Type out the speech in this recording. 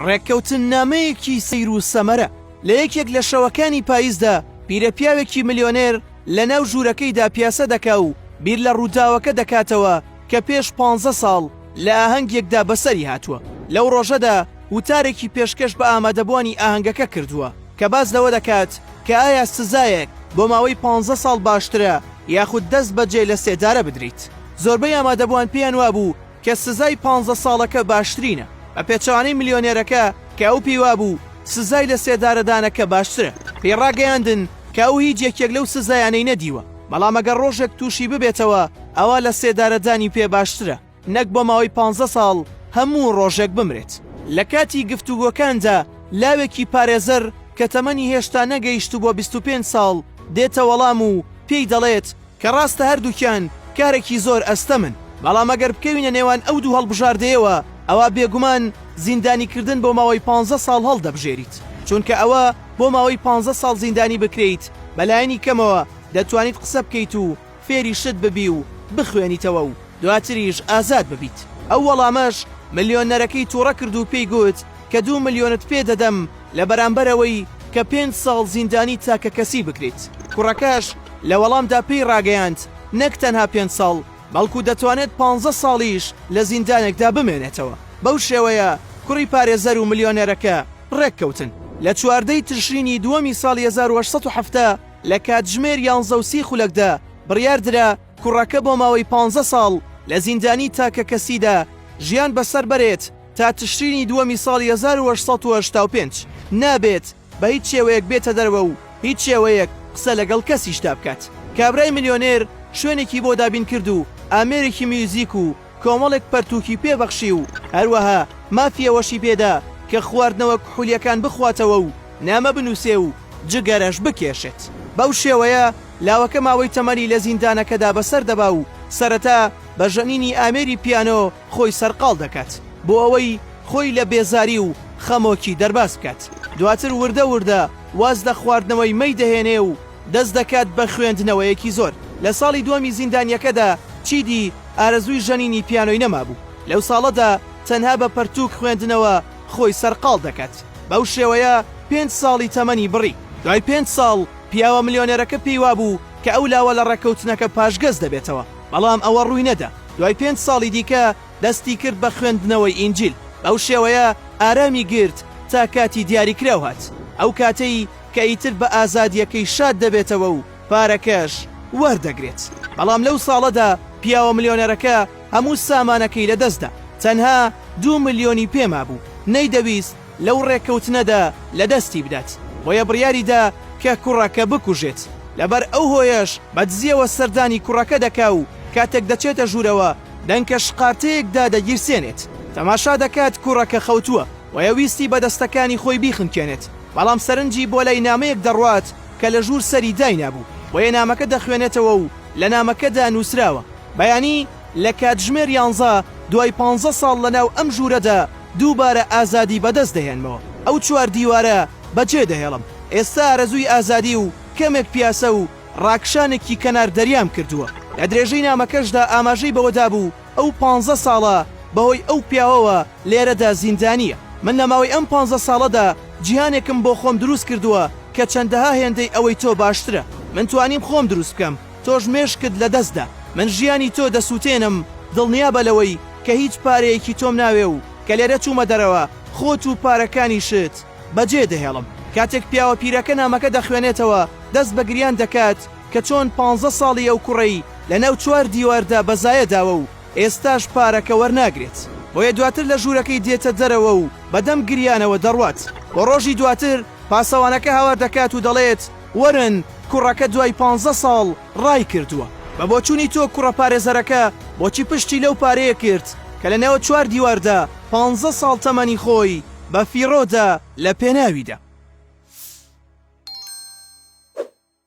ڕێککەوتننامەیەکی سەیر و سەمەرە، لە یەکێک لە شەوەکانی پاییزدا پیرە پیاوێکی ملیۆنێر لە ناو ژوورەکەیدا پیاسە دەکا و بیر لە ڕووداوەکە دەکاتەوە کە پێش پانزە ساڵ لە ئاهەنگێکدا بەسەری هاتووە. لەو ڕۆژەدا وتارێکی پێشکەش بە ئامادەبووانی ئاهەنگەکە کردووە کە باس لەوە دەکات کە ئایا سزایەک بۆ ماوەی پانزە ساڵ باشترە یاخود دەست بەجێ لە سێدارە بدریت. زۆربەی ئامادەبووان پێیان وابوو، کە سزای پانزە ساڵەکە باشترینە، بە پێچەوانەی ملیۆنێرەکە کە ئەو پێی وابوو سزای لە سێدارەدانەکە باشترە، پێی ڕاگەیاندن کە ئەو هیچ یەکێک لەو سزایانەی نەدیوە، بەڵام ئەگەر ڕۆژێک تووشی ببێتەوە ئەوا لە سێدارەدانی پێ باشترە نەک بۆ ماوەی پانزە ساڵ هەموو ڕۆژێک بمرێت. لە کاتی گفتوگۆکاندا لاوێکی پارێزەر کە تەمەنی هێشتا نەگەیشتبووە بیست و پێنج ساڵ دێتە وەڵام و پێی دەڵێت، کە ڕاستە هەردووکیان کارێکی زۆر ئەستەمن، بەڵام ئەگەر بکەوینە نێوان ئەو دوو هەڵبژاردەیەوە، ئەوا بێگومان زیندانیکردن بۆ ماوەی پانزە ساڵ هەڵدەبژێریت، چونکە ئەوە بۆ ماوەی پانزە ساڵ زیندانی بکرێیت بەلایەنی کەمەوە دەتوانیت قسە بکەیت و فێری شت ببی و بخوێنیتەوە و، دواتریش ئازاد ببیت. ئەو وەڵامەش ملیۆنەرەکەی توڕە کرد و پێی گوت کە دوو ملیۆنت پێ دەدەم لە بەرامبەر ئەوەی کە پێنج ساڵ زیندانی تاکەکەسی بکریت. کوڕەکەش لە وەڵامدا پێی ڕاگەیاند نەک تەنها پێنج ساڵ بەڵکو دەتوانێت پانزە ساڵیش لە زیندانێکدا بمێنێتەوە. بەو شێوەیە کوڕی پارێزەر و ملیۆنەرەکە ڕێک کەوتن. لە چواردە ی تشرینی دووەمی ساڵی هەزار و هەشت سەد و حەفتا لە کاتژمێر یانزە و سی خولەکدا بڕیار درا، کوڕەکە بۆ ماوەی پانزە ساڵ لە زیندانی تاکەکەسیدا ژیان بەسەر بەرێت تا تشرینی دووەمی ساڵی هەزار و هەشت سەد و هەشتا و پێنج نابێت بە هیچ شێوەیەک بێتە دەرەوە و هیچ شێوەیەک قسە لەگەڵ کەسیشدا بکات. کابرای ملیۆنێر شوێنێکی بۆ دابین کرد و ئامێرێکی میوزیک و کۆمەڵێک پەرتووکی پێ بەخشی و هەروەها مافی ئەوەشی پێ دا کە خواردنەوە کحولییەکان بخواتەوە و نامە بنووسێ و جگەرەش بکێشێت. بەو شێوەیە لاوەکە ماوەی تەمەنی لە زیندانەکەدا بەسەر دەبا و سەرەتا بە ژەنینی ئامێری پیانۆ خۆی سەرقاڵ دەکات بۆ ئەوەی خۆی لە بێزاری و خەمۆکی دەرباز بکات. دواتر وردە وردە واز لە خواردنەوەی مەی دەهێنێ و دەست دەکات بە خوێندنەوەیەکی زۆر. لە ساڵی دووەمی زیندانییەکەدا چیدی ئارەزووی ژەنینی پیانۆی نەمابوو. لەو ساڵەدا تەنها بە پەرتووک خوێندنەوە خۆی سەرقاڵ دەکات. بەو شێوەیە پێنج ساڵی تەمەنی بڕی. دوای پێنج ساڵ پیاوە ملیۆنێرەکە پێی وابوو کە ئەو لاوە لە ڕێککەوتنەکە پاشگەز دەبێتەوە، بەڵام ئەوە ڕووی نەدا. دوای پێنج ساڵی دیکە دەستی کرد بە خوێندنەوەی ئینجیل. بەو شێوەیە ئارامی گرت تا کاتی دیاریکراو هات، ئەو کاتەی کە ئیتر بە ئازادییەکەی شاد دەبێتەوە و، پارەکەش وەردەگرێت، بەڵام لەو ساڵەدا پیاوە ملیۆنەرەکە هەموو سامانەکەی لەدەستدا، تەنها دوو ملیۆنی پێ مابوو، نەیدەویست لەو ڕێککەوتنەدا لەدەستی بدات، بۆیە بڕیاریدا کە کوڕەکە بکوژێت، لەبەر ئەو هۆیەش بەدزییەوە سەردانی کوڕەکە دەکا و کاتێک دەچێتە ژوورەوە دەنکە شقارتەیەک دادەگیرسێنێت، تەماشا دەکات کوڕەکە خەوتووە، بۆیە ویستی بە دەستەکانی خۆی بیخنکێنێت، بەڵام سەرنجی بۆ لای نامەیەک دەڕوات، کە لە ژوور سەری داینابوو، بۆیە نامەکە دەخوێنێتەوە و لە نامەکەدا نووسراوە، بەیانی لە کاتژمێر یانزە دوای پانزە ساڵ لە ناو ئەم ژوورەدا دووبارە ئازادی بەدەست دەهێنمەوە، ئەو چوار دیوارە بەجێ دەهێڵم، ئێستا ئارەزووی ئازادی و کەمێک پیاسە و ڕاکشانێکی کەنار دەریام کردووە. لە درێژەی نامەکەشدا ئاماژەی بەوەدابوو، ئەو پانزە ساڵە بەهۆی ئەو پیاوەوە لێرەدا زیندانییە. من لە ماوەی ئەم پانزە ساڵەدا جیهانێکم بۆ خۆم دروست کردووە کە چەندەها هێندەی ئەوەی تۆ باشترە. من توانیم خۆم دروست بکەم، تۆش مێشکت لەدەست دە. من ژیانی تۆ دەسووتێنم، دڵنیابە لەوەی کە هیچ پارەیەکی تۆم ناوێ و کە لێرە چوومە دەرەوە خۆت و پارەکانیشت بەجێ دەهێڵم. کاتێک پیاوە پیرەکە نامەکە دەخوێنێتەوە دەست بە گریان دەکات. کە چۆن پانزە ساڵی ئەو کوڕەی لە ناو چوار دیواردا بە زایە داوە و ئێستاش پارەکە وەرناگرێت بۆیە دواتر لە ژوورەکەی دێتە دەرەوە و بە دەم گریانەوە دەڕوات بۆ ڕۆژی دواتر پاسەوانەکە هاوار دەکات و دەڵێت وەرن کوڕەکە دوای پانزە ساڵ ڕای کردووە. بە بۆچوونی تۆ کوڕە پارێزەرەکە بۆچی پشتی لەو پارەیە کرد کە لە ناو چوار دیواردا پانزە ساڵ تەمەنی خۆی بە فیڕۆ دا لە پێناویدا؟